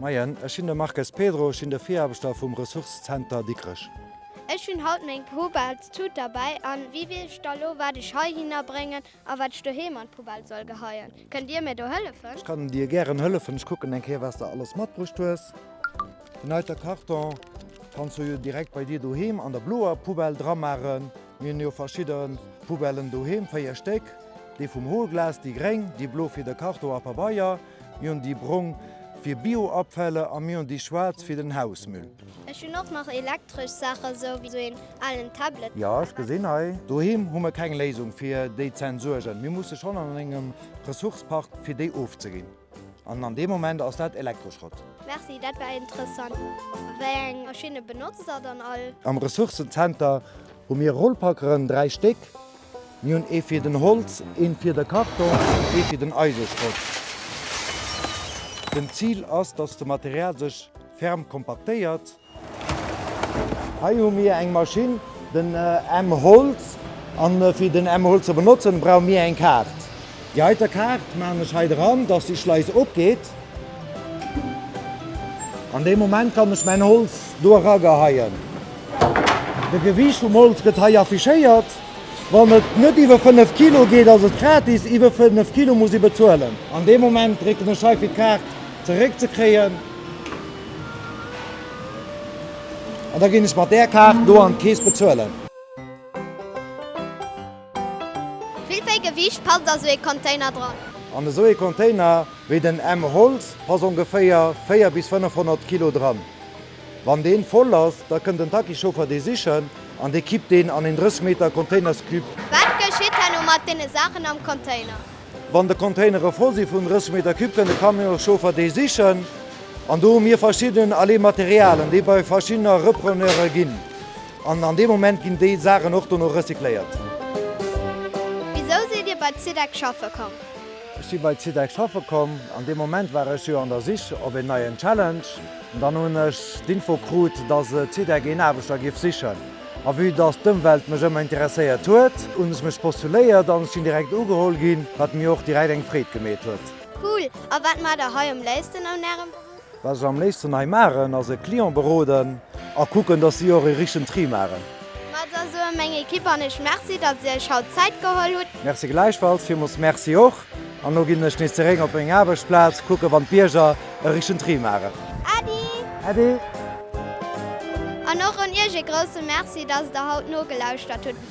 Moien, ech sinn de Marques Pedro, ech sinn de Viraarbechter vum Ressourcëzenter Dikrech. Ech hunn haut meng Poubelletüt derbäi an wéi weess ech da lo wat ech heihinner bréngen a wat ech doheem an d'Poubelle soll geheien? Kënnt Dir mir do hëllefen? Ech kann dir gären hëllefen. Ech kucken eng Kéier wat s de alles matbruecht hues. Den heite Karton kanns du jo direkt bei dir doheem an der bloer Poubelle dramaachen. Mir hunn jo verschidde Poubellen doheem, 4 Stéck, déi vum Hohlglas, déi gréng, déi blo fir de Karton a Pabeier, Mir hunn déi brong fir Bioabfäller a mir hunn déi schwaarz fir den Hausmüll. Ech hunn och nach elektresch Saachen, sou wéi sou een alen Tablet. Jo, ech gesinn hei. Doheem hu mir keng Léisung fir déi ze entsuergen. Mir musse schonn an engem Ressource-Park fir déi ofzeginn. An an deem Moment ass dat Elektroschrott. Merci, dat war interessant. Wéi eng Maschinne benotzt der dann all? Am Ressourcenzenter hu mir Rollpackeren, dräi Stéck. Mir hunn ee fir den Holz, een fir de Karton an ee fir den Eiseschrott. Den Zil ass dass de Material sech ferm kompaktéiert. Hei hu mir eng Maschinn, den M-Holz, an fir den M-Holz ze benotzen brauche mir eng Kaart. Déi heiter Kaart maachen ech hei dran, dass déi Schleis opgeet. An deem Moment kann ech mäin Holz do erageheien. De Gewiicht vum Holz gëtt hei affichéiert. Wann et net iwwer 5 Kilo geet, ass et gratis, iwwer 5 Kilo muss ee bezuelen. An deem Moment drécken ech hei fir d'Kaart zeréck ze kréien. An da ginn ech mat där Kaart do an d'Keess bezuelen. Wéi véi Gewiicht passt a sou ee Container dran? An esou ee Container wéi den M Holz pass ongeféier 4 bis 500 Kilo dran. Wann deen voll ass, da kënnt den Taxichauffer dee sichen an dee kippt deen an een 30 Meter Containerscube. Wat geschitt herno mat deene Saachen am Container? Wann de Containere voll si vun 30 Meter Cube kënnt de Camionschauffer dee sichen an do hu mir verschidden Allez Materialen déi bei verschiddener Repreneure ginn. An an deem Moment ginn déi Saachen och dono recycléiert. Wisou sidd Dir bei Zydex schaffe komm? Ech si bei Zydex schaffe komm, an deem Moment war ech jo an der Sich op een neien Challenge. An dann hunn ech d'Info krut, dass Zydex een Aarbechter géif sichen. A vue dass d'Ëmwelt mech ëmmer interesséiert huet, hunn ech mech postuléiert an ech sinn direkt ugeholl ginn, wat mir och direkt eng Freed gemeet huet. Cool! A wat maacht Der hei um léifsten an Ärem Beruff? Wat ech am léifsten hei maachen ass e Client beroden a kucken, dass si och e richtegen Tri maachen. Ma da soe meng Ekipp an ech Merci, datt dir iech haut Zäit geholl hutt. Merci gläichfalls, villmools Merci och. An elo ginn ech nees zeréck op meng Aarbechtsplaz, kucken, wann d'Bierger e richtegen Tri maachen. Äddi! Äddi! An och un iech e grousse Merci, datt der haut nogelauschtert hutt.